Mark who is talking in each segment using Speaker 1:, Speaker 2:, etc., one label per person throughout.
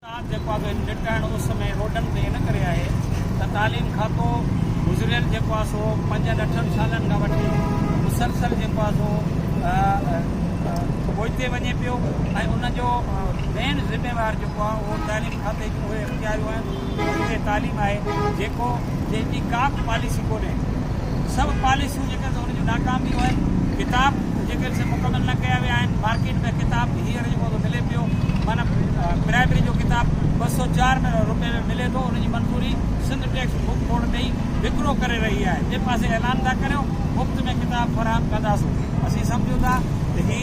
Speaker 1: ساٿ جيڪو آهي سو نٽ ۽ اس ۾ روڊن تي ان ڪري آهي ته تعليم کاتو گذريل جيڪو آهي سو پنجن اٺن سالن کان وٺي مسلسل جيڪو آهي سو پوئتي وڃي پيو ۽ ان جو مين ذميوار جيڪو آهي اهو تعليم کاتي جون اهي اختياريون آهن اهي تعليم آهي جيڪو جنهن جي ڪا به پاليسي ڪونهي سڀ پاليسيون مرڪز ان جون ناڪام ويون آهن ڪتاب جيڪي سي مڪمل نه ڪيا ويا آهن مارڪيٽ ۾ ڪتاب هينئر جيڪو سو ملي پيو معنيٰ پرائمري جو ڪتاب ٻه سؤ چار ۾ روپئي ۾ ملي ٿو ان جي منظوري سنڌ ٽيڪسٽ بڪ بورڊ ڏئي وڪرو ڪري رهي آهي ٻئي پاسي اعلان ٿا ڪريو مفت ۾ ڪتاب فراهم ڪنداسون اسين سمجهون ٿا ته هي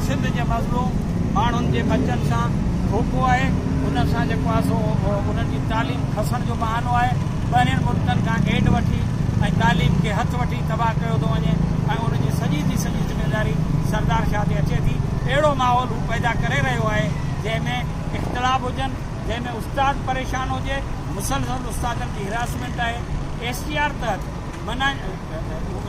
Speaker 1: سنڌ جي مظلوم ماڻهن جي ٻچن سان ڌوڪو آهي انهن سان جيڪو آهي سو انهن جي تعليم کسڻ جو بهانو آهي ٻاهرين ملڪن کان ايڊ وٺي ۽ تعليم کي هٿ وٺي تباهه ڪيو ٿو وڃي ۽ ان جي سڄي جي سڄي ذميواري سردار شاهه تي اچي ٿي اهڙو ماحول هو پيدا ڪري رهيو آهي جنهن ۾ اختلاف هجن جنهن ۾ استاد پريشان هجي مسلسل استادن جي هراسمينٽ آهي ايس ٽي آر تحت منع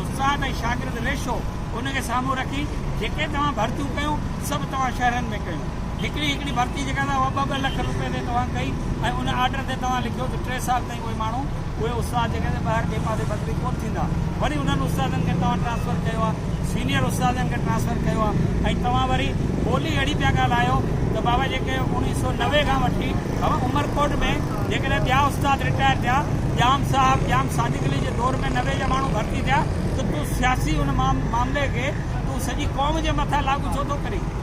Speaker 1: استاد ۽ شاگرد ريشو ان کي سامهون رکي جيڪي توهان ڀرتيون ڪيون سڀ توهان شهرن ۾ ڪيون هڪڙي هڪڙي ڀرتي جيڪا اها ٻه ٻه لک روپين تي توهان ڪئي ۽ ان آرڊر تي توهان لکيو ته ٽي سال تائين اهي ماڻهو اهي استاد جيڪي آهن سي ٻاهر ٻئي پاسي بدلي ڪونه ٿيندا وري انهن استادن کي توهان ٽرانسفر ڪيو آهي سينيئر استادن کي ٽرانسفر ڪيو آهي ۽ توهان وري ٻولي اهڙي پيا ڳالهايو ته بابا جيڪي اوڻيهه سؤ نوي کان وٺي بابا عمرڪوٽ ۾ جيڪڏهن ٻيا استاد رٽائر ٿيا ڄام صاحب ڄام صادق علي جي دور ۾ نوي جا ماڻهو ڀرتي ٿيا ته تون سياسي ان معاملي کي تون سڄي قوم جي مٿان لاڳو ڇو ٿو ڪرين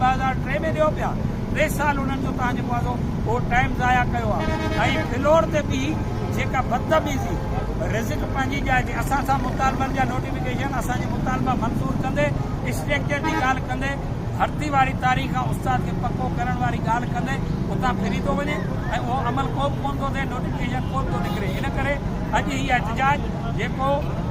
Speaker 1: ٻه هزار ٽي ۾ ڏيو پيا ٽي سال انهن جو توهان جيڪو آزو اهو ٽائيم ضايع ڪيو آ ۽ فلور تي بي جيڪا بدتميزي رزق پنهنجي جاء تي اسان سان مطالبن جا نوٽيفڪيشن اسان جي مطالبا منظور ڪندي اسٽريڪچر جي ڳالهه ڪندي ڀرتي واري تاريخ کان استاد کي پڪو ڪرڻ واري ڳالهه ڪندي اتان ڦري ٿو وڃي ۽ اهو عمل ڪو به ڪون ٿو ٿئي نوٽيفڪيشن ڪو به ٿو نڪري ان ڪري اڄ هي احتجاج جيڪو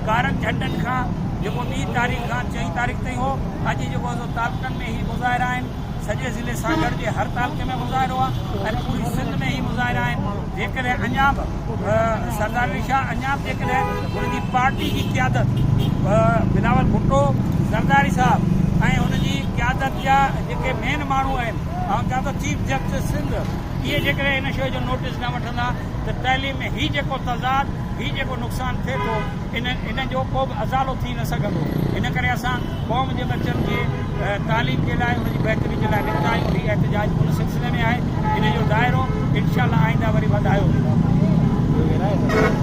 Speaker 1: ڪارن جهنڊن کان جيڪو ٻي تاريخ کان چئين تاريخ تائين هو اڄ جيڪو تعلقن ۾ هي مظاهرا آهن، سڄي ضلعي سان گڏجي هر تعلقي ۾ مظاهرو آهي ۽ پوري سنڌ ۾ هي مظاهرا آهن، جيڪڏهن اڃا به سردار علي شاهه اڃا به جيڪڏهن هن جي پارٽي جي قيادت بلاول ڀٽو زرداري صاحب ۽ هن جي قيادت جا جيڪي مين ماڻهو آهن آئون چوان ٿو چيف جسٽس سنڌ اهي جيڪڏهن هن شيء جو نوٽيس نه وٺندا ته تعليم ۾ هي جيڪو تضاد هي جيڪو نقصان ٿئي ٿو ان جو ڪو به ازالو ٿي نه سگهندو ان ڪري اسان قوم جي ٻچن کي تعليم جي لاء ان جي بهتري جي لاء نڪتا آهيون هي احتجاج ان سلسلي ۾ آهي ان جو دائرو انشاء الله آئنده وري وڌايو ويندو